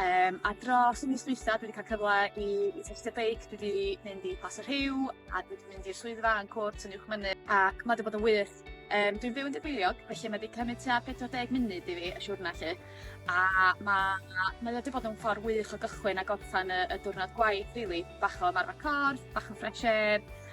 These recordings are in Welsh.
Yym a dros y mis dwytha dwi 'di ca'l cyfle i i tystio beic dwi 'di mynd i Plas y Rhiw a dwi 'di mynd i'r swyddfa yn Cwrt yn Uwch Mynydd ac ma' 'di bod yn wych. Yym dwi'n byw yn Tudweiliog felly ma' 'di cymyd tua pedwar deg munud i fi y siwrna 'lly a ma' mae o 'di bod yn ffor wych o gychwyn a gorffan y y diwrnod gwaith rili bach o ymarfer corff bach o fresh air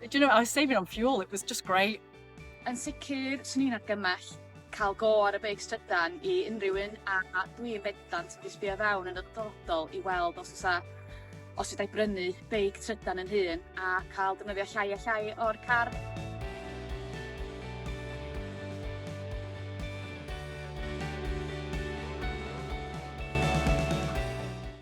Do you know, I was saving on fuel, it was just great. Yn sicr, swn i'n argymell cael go ar y beic strydan i unrhyw un a, a dwi yn bendant wedi sbio fewn yn y dyfodol i weld os oes os ydau brynu beic trydan yn hun a cael defnyddio llai a llai o'r car.